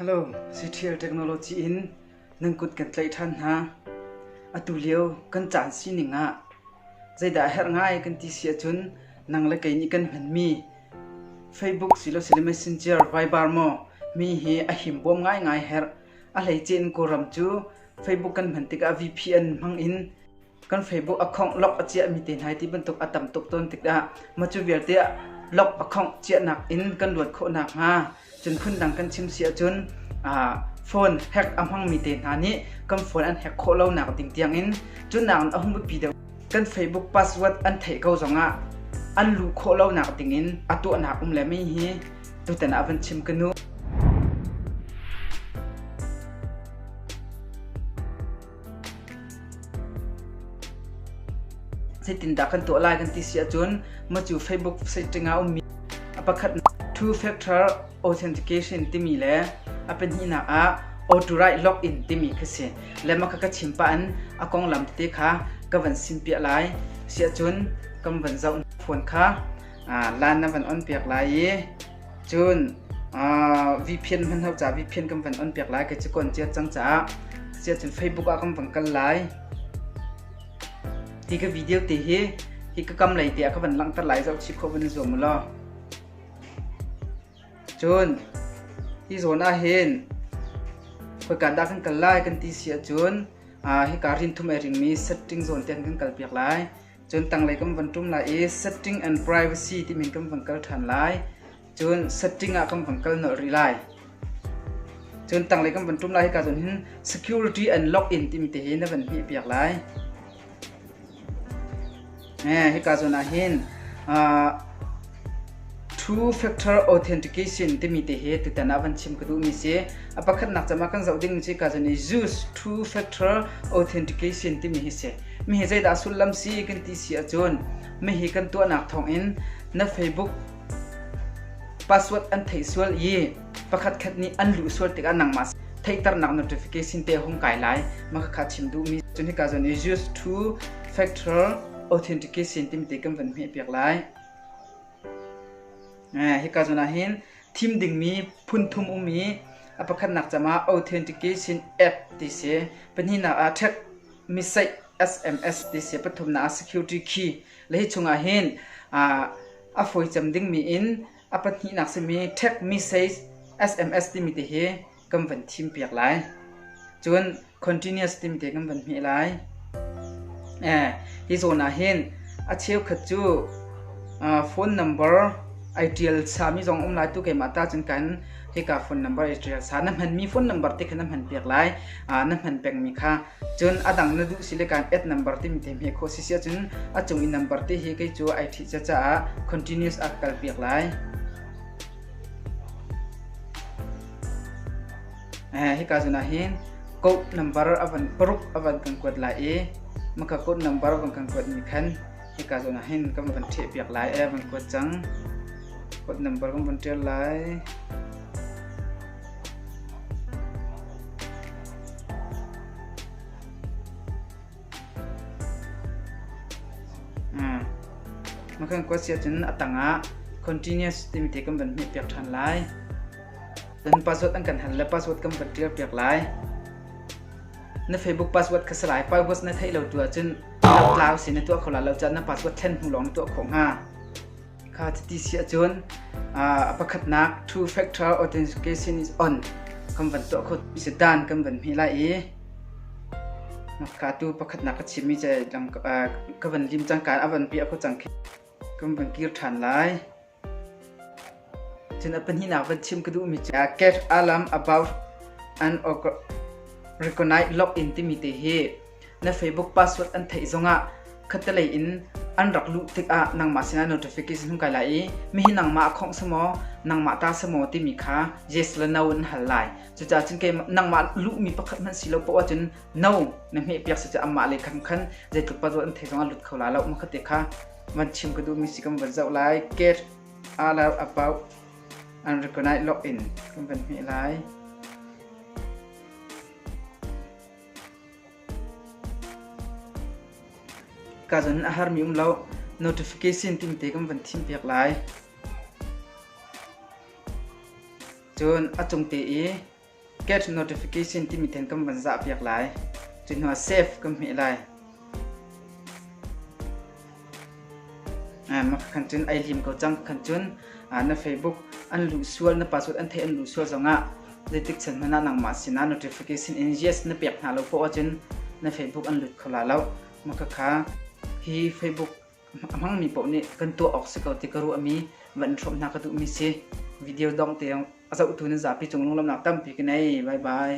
Halo, Ctrial Technology in nan kut kan tlaih ṭhan hna. Atu lio kan caan sining ah zeidah a herh ngai kan ti si ahcun nang le kei nih kan hmanmi Facebook silosile Messenger vaibar maw mi hi a himbawm ngaingai herh. A hleice in Kawlram cu Facebook kan hman tikah VPN hmang in kan Facebook a khongh lok a ciahmi te hna hi ti bantuk a tam tuk tawn tikah mah cu vialte ah lok a khongh ciahnak in kan luat khawh nakhnga cun phundang kan chim si ahcun phone hack a hmangmi te hna nih kan phone an hack khawh lonak ding tiangin cun nakin a hung biapi deuh kan Facebook password an theih ko zongah an luh khawh lonak dingin a tuahnak um le mai hi tutan ah van chim kanu Zeitindah kan tuah lai kan ti si ahcun macu Facebook site ah ummi a pakhat two factor authentication timi le a pahnihnak ah authorized login timi kha si le maka ka chim pa an a konglam te kha ka van sim piah lai si ahcun kan van zoh phone kha lan na van on piak lai i Cun VPN hmanhau caah VPN kan van on piak lai ka cu ka on ciat cang caah cun Facebook ah kan van kal lai. Ti ka video te hi hi ka kam lei te ah ka van langhter lai zoh chip kho van i zuam u law. Cun hi zawn ah hin khoi kan dah kan kal lai kan ti si ahcun hi ka rin thum ai ringmi setting zawn te kan kal piak lai. cun tanglei kan van ṭum lai i setting and privacy timi kan van kal ṭhan lai cun setting ah kan van kal nolh rih lai cun tanglei kan van ṭum lai hika cun hin security and login timi te hi na van hmih piak lai eh hika zon ah hin uh, Two Factor Authentication timi te hi tutan ah van chim ka duhmi si. A pakhatnak cam ah kan zoh dingmi cu kazan i use two factor authentication timi hi si. Mihi zeidah sullam si kan ti si ahcun mihi kan tuahnak thawng in na Facebook password an theih sual i pakhat khat nih an luh sual tikah nangmah theihternak notification te hung kai lai. Maka kha chim duhmi. Cun hi kazan i use two factor authentication timi te kan van hmeh piak lai. Hika zawn ahhin thim dingmi phunthum um i a pakhatnak cam ah Authentication App ti si, pahnihnak ah Track Message SMS ti si, pathumnak ah Security Key. Le hi chung ahhin a fawi cem dingmi in a pahnihnak simi Track Message SMS timi ti hi kan van thim piak lai cun continuous tim te kan van hme lai eh hi zawn ah hin a cheukhat cu phone number ai tial sami zong um lai tu keimah ta cun kan hika phone number ai tial sa na hman mi phone number te kha na hman piak lai na hman peng mi kha cun adang na duh si le kan add number tim te hme kho si sia cun a chung i number te hi kei cu ai thi cha ca continuous ak kal piak lai Hika zun ahhin code number paruk a van kan kuat lai i maka code number van kan kuatmi khan hika zun ahhin kan van ṭhehpiak lai van kuat cang. Code number kan van ṭial lai. Mekhan kuasi ahcun a tangah continuous timi te kan van hmeh piak ṭhan lai. Dan password an kan hal le password kan van ṭial piak lai. Na Facebook password kha salai password na theih lo tu ahcun lau tlau si na tuah kho la lo cah na password thlen hnu lawng na tuah khawh hnga. Kha chiti si ahcun a pakhatnak two factor authentication is on kan van tuah kho si dan kan van hmi lai i ka tu pakhatnak ka chimmi che dang ka van lim cangka a van pi a kho cang khi kan van kir than lai cun a pahninak van chim ka duhmi cu get alarm about an recognize log in timi te hi Na Facebook password an theih zongah khattelei in an rak luh tikah nangmah sinah notification hung kai lai i mihi nangmah a khawngh sa maw nangmah ta sa maw timi kha yes le no in hal lai cucaah cun kei nangmah luhmi pakhat hmanh si lo poah ahcun no na hmeh piak si amah le khan khan zeitluk password an theih zongah lut kho la lo ma khate kha van chim ka duhmi si kan van zoh lai get all out about and recognize login kan van hmeh lai Ka zun a harmi um lo. Notification tingte kan van thimpiak lai. Cun a cungte i get notification timi ten kan van zahpiak lai. Cu hnuah save kan hmeh lai. Khan cun ai hlim ko cang. Khan cun na Facebook an luh sual, na password an theih an luh sual zongah zeitik chan hmanh ah nangmah sinah notification in yes na pek hna lo khawh ahcun na Facebook an lut kho la lo. Makhakha hi Facebook a hmangmi paoh nih kan tuah awk si ko ti ka ruahmi van hrawm hna ka duhmi si. Video dong te a zohtu nan zapi cung lunglamnak tampi ka nei. Bye bye.